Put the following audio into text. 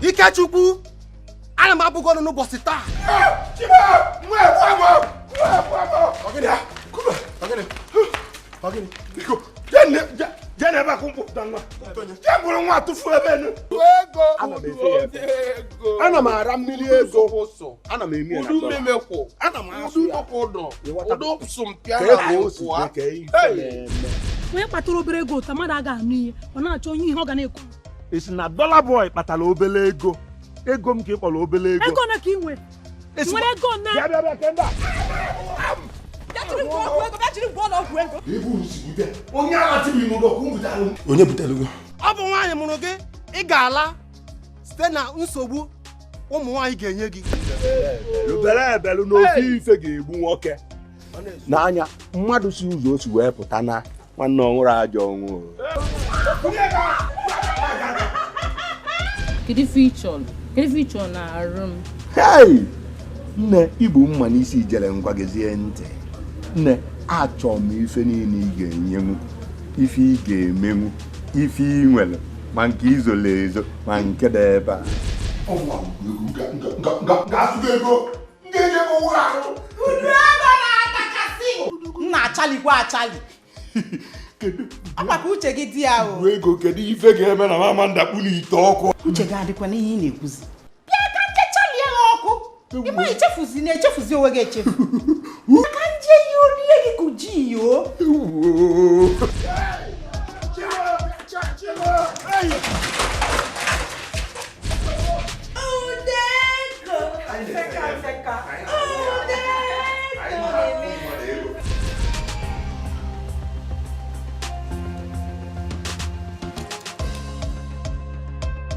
Ikechukwu ana m abụ gị ọnụ n'ụbọchị taa jee n'ebe a ka mkpụpụta nwa jee buru nwa tụfuo ebe enu ana m ara mmili ego ana m eme ya udu mmeme kwụ ana m asụ ya ụdụ ụdọ ụdụ sụmpịa na akwụkwọ onye kpatara obere ego taa mmadụ aga anụ ihe ọ na-achọ onye ihe ọ ga na-ekwu ị si na dollar boy kpatara obele ego ego m ka ị kpọrọ obele ego ego na ka ị nwere nwere ego na bịa bịa bịa kemba onye butere gị ọ bụ nwaanyị mụrụ gị ị ga-ala site na nsogbu ụmụ nwaanyị ga-enye gị lụbere ebelu n'ofe ife ga-egbu nwoke n'anya mmadụ si ụzọ o si wee pụta na nwanne ọ nwụrụ ajọ ọnwụ kedu ife ị chọrọ kedu ife ị chọrọ na arụ m hei nne ị bu mma n'isi ijere ngwa gezie ntị nne achọ m ife niile ị ga-enyenwu ife ị ga-emenwu ife ị nwere ma nke i zolu ezo ma nke dị ebe a na-achalikwa achali agbaka uche gị dị ya o ego kedu ife ga-eme na mama m dakpulu ite ọkụ uche gị adịkwa n'ihe ị na-ekwuzi bịa ka nkechalie ha ọkụ ị ma echefuzi na echefuzi onwe gị echefu ka nje ihe orie gị ka uji yo